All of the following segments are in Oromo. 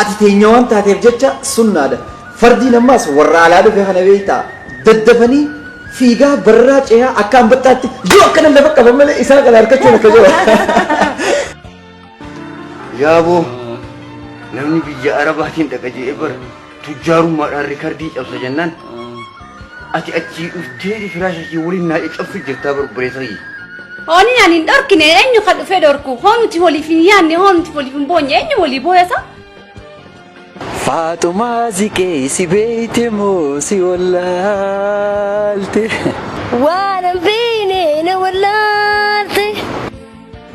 Ati teenya waan taateef jecha sunnaadha. Fardiin ammaas warra alaa dhufe kana beektaa? Daddafanii fiigaa barraa cehaa akka anbaxxaatti yoo akkana lafa qaban malee isaan kana harkachuun akka jiru. Yaaboo namni biyya arabaatiin dhaqa je'ee bara. Tujjaarummaadhaan rikardii cabsa jennaan ati achii dhufteeti firaasha kee waliin naa caccabsu jirtaa bar obboleessa kiyya. Hooni ani hin dhorkine eenyu ka dhufee dhorku hoo nuti waliif hin yaanne hoo nuti waliif hin boonye eenyu walii booyasa. Faaxumaa ziqee si beeyte moo si wallaalte. Waan hin beekne na wallaalte.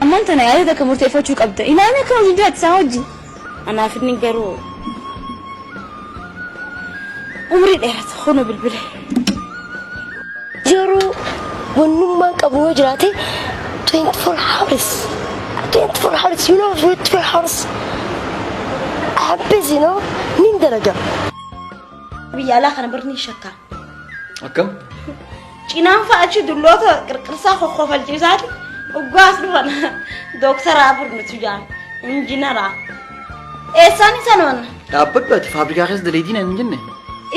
Ammaan tana yaadota akka murteeffachuu qabda. Ilaalee akka hojii jiraatti isaa hojii. Anaaf inni garuu umrii dheerata kunu bilbile. Yeroo wannummaan qabu yoo jiraate 24 hours 24 hours you know 24 hours I am busy you know nin dalaga. Biyya alaa kana barni shakkaa. Akkam? Cinaan fa'a achi dulloota qirqirsaa kokkofalchiisaati dhuggaas dhufan dooktaraa afur nutu jaan injinaraa. Eessaan isa noon? Dhaabbadhu ati faabrikaa keessa daleetii naan hin jenne.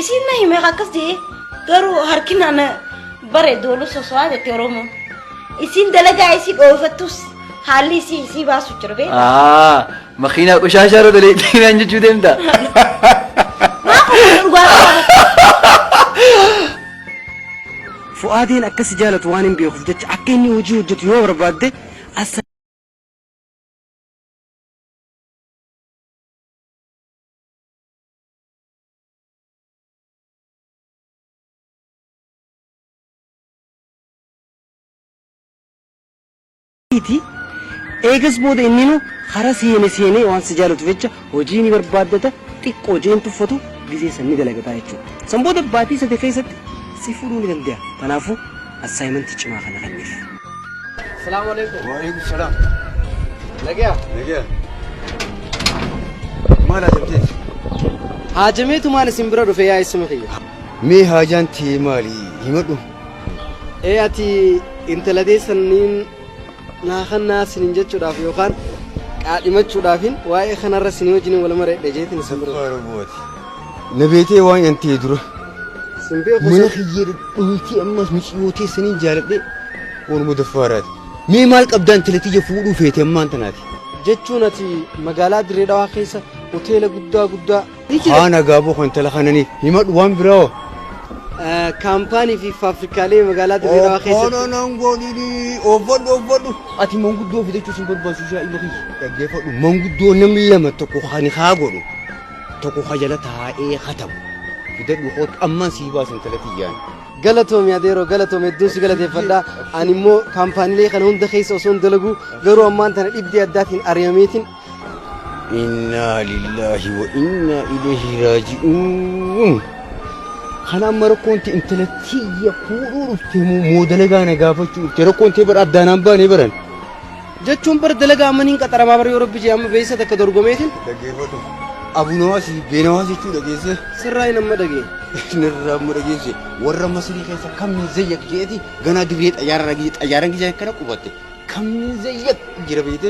Isiin na hime akkas jee garuu harki naan bareedu olu soso'aa jette Oromoon. Isiin dalagaa isii dhoofattus haalli isii isii baasu jira beektaa? Aa makiinaa qoshaashaa irra daleetii naan jechuu deemta. Maa kokkofalchiisaa? Fu'aadiin akka si jaalatu waanin beekuuf jecha akka inni hojii hojjetu yoo barbaadde as ti. Eegas booda inninuu hara seene seenee waan si jaalatuuf jecha hojii ni barbaaddata, xiqqoo hojii hin tuffatu, gizee san ni dalagataa jechuudha. San booda baatii sadi keessatti si fuudhuu ni dande'a. Tanaafuu assaayimantii cimaa kana kenniif. Assalaamu aleykum. Waaleykum salaam. Nageya? Nageya. Maal haajamteeti? Haajameetumaan isin bira dhufe yaa eessuma kiyya. Mee haajaan tee maali? Himadhu. Ee ati intala deessanniin naa kannaa sinin jechuudhaaf yookaan qaadhimachuudhaafin waa'ee kanarra sinii wajjin wal mareedhe jeetin isa bira. Na beetee waan yantee dura. Sin beeku Mana sun kiyya dhooytee ammas miciyoo teessaniin jaaladhe waanuma daffaaraati. Mee maal qabdaan tilatiyya fuudhuu feete ammaan tanaati. jechuun ati magaalaa Dirree Dhawaa keessa hoteela guddaa guddaa Haa nagaa bu'u intala kananii himadhu waan biraa hoo. Kaampaanii fi faabrikaalee magaalaa Dirree Dhawaa keessatti. Obboono nan godhini obbodhu obbodhu. Ati manguddoo fidachuu sin barbaachisu yaa ilma kiyya. Dhaggeeffadhu manguddoo namni lama tokko kan haa godhu tokko kan jala taa'ee hatamu. Fidadhu kootu ammaan sii baasa intala tiyyaan. Galatoomi adeeroo galatoomi hedduun si galateeffadha. Ani immoo kaampaaniilee kana hunda keessa osoo hin dalagu garuu ammaan tana dhibdee addaatiin ari'ameetiin Innaa lillaahi wa innaa ilayhi raaji'uun. Kana amma rakkoon tee intala tiyya fuudhuu dhufte moo moo dalagaa na gaafachuu dhufte rakkoon tee bara addaan aan baanee baran. Jechuun bara dalagaa amma niin qaxaramaa bara yoo rabbi jee amma beeysa takka dorgomeetiin Dhaggeeffadhu. Abunawaasi beenawaas jechuu dhageesse. sirraa hin amma dhagee. Nirraa amma dhageesse. Warra Masirii keessa kam min zayyak jeeti ganaa dirree xayyaara dhagee xayyaaran kiyya kana qubatte. Kam min zayyak jira beeyte.